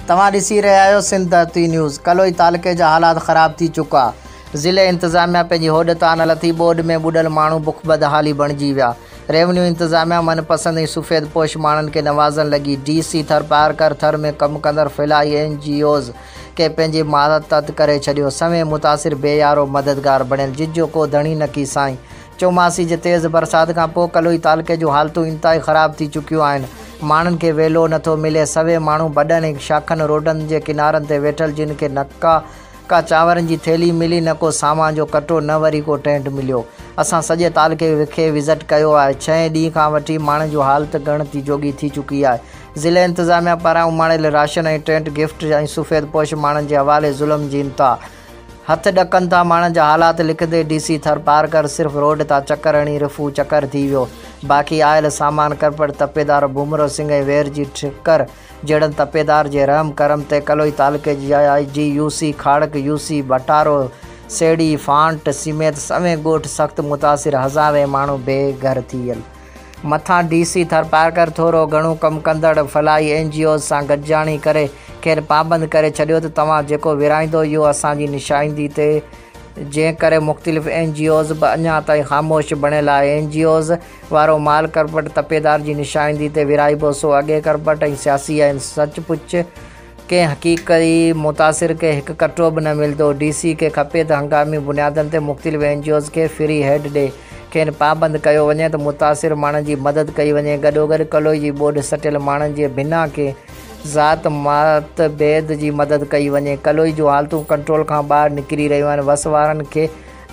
توهان ڏسي رهيا آهيو سنڌ ڌرتي نيوز، ڪلوئي تعلقي جا حالات خراب ٿي چڪا، ضلعي انتظاميا پنهنجي هوڏ تان نه لٿي، ٻوڏ ۾ ٻڏل ماڻهو بک بدحالي بڻجي ويا، ريونيو انتظاميا من پسند ۽ سفيد پوش ماڻهن کي نوازڻ لڳي، ڊي سي ٿر پارڪر ٿر ۾ ڪم ڪندڙ فلاحي اين جي اوز کي پنهنجي ماتحت ڪري ڇڏيو، سوين متاثر بي يارو مددگار بڻيل جن جو ڪو ڌڻي نڪي سائين چوماسي جي تيز برسات کان پوء ڪلوئي تعلقي جون حالتون انتهائي خراب ٿي چڪيون آهن، ماڻهن کي ويلو نه ٿو ملي، سوين ماڻهو بڊن ۽ شاخن روڊن جي ڪنارن تي ويٺل جن کي نه ڪا ڪا چانورن جي ٿيلهي ملي نه ڪو سامان جو ڪٽو نه وري ڪو ٽينٽ مليو، اسان سڄي تعلقي کي وزٽ ڪيو آهي، ڇهين ڏينهن کان وٺي ماڻهن جون حالت ڳڻتي جوڳي ٿي چڪي آهي، ضلعي انتظاميا پاران اماڻيل راشن ۽ ٽينٽ گفٽ ۽ سفيد پوش ماڻهن جي حوالي ظلم جي انتها. هٿ ڏڪن ٿا ماڻهن جا حالات لکندي ڊي سي ٿرپارڪر صرف روڊ تان چڪر هڻي رفو چڪر ٿي ويو باقي آيل سامان ڪرپٽ تپيدار ڀومرو سنگهه ۽ وير جي ٺڪر جهڙن تپيدار جي رحم ڪرم تي ڪلوئي تعلقي جي آء جي U C Kharak U C Bhataro Seri فانٽ سميت سوين ڳوٺ سخت متاثر هزارين ماڻهو بي گهر ٿي ويل مٿان ڊي سي ٿرپارڪر ٿورو گهڻو ڪم ڪندڙ فلاحي اين جي اوز سان گڏجاڻي ڪري کين پابند ڪري ڇڏيو ته توهان جيڪو ورهائيندو اهو اسان جي نشائندي تي جنهن ڪري مختلف اين جي اوز به اڃا تائين خاموش بڻيل آهي اين جي اوز وارو مال ڪرپٽ تپيدار جي نشائندي تي ورهائبو سو اڳي ڪرپٽ ۽ سياسي آهن سچ پچ ڪنهن حقيقي متاثر کي هڪ ڪٽو به نه ملندو، ڊي سي کي کپي ته هنگامي بنيادن تي مختلف اين جي اوز کي فري هيڊ ڏئي کين پابند ڪيو وڃي ته متاثر ماڻهن جي مدد ڪئي وڃي، گڏوگڏ ڪلوئي جي ٻوڏ سٽيل ماڻهن جي بنا ڪنهن ذات ماتڀيد جي مدد ڪئي وڃي، ڪلوئي جون حالتون ڪنٽرول کان ٻاهر نڪري رهيون آهن، وس وارن کي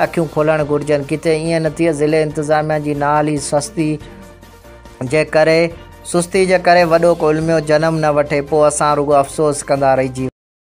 اکيون کولڻ گهرجن، ڪٿي ائين نه ٿئي ضلعي انتظاميا جي نااهلي سستي، جي ڪري، سستي جي ڪري وڏو ڪو علميو جنم نه وٺي، پوء اسان رڳو افسوس ڪندا رهجي ويندا.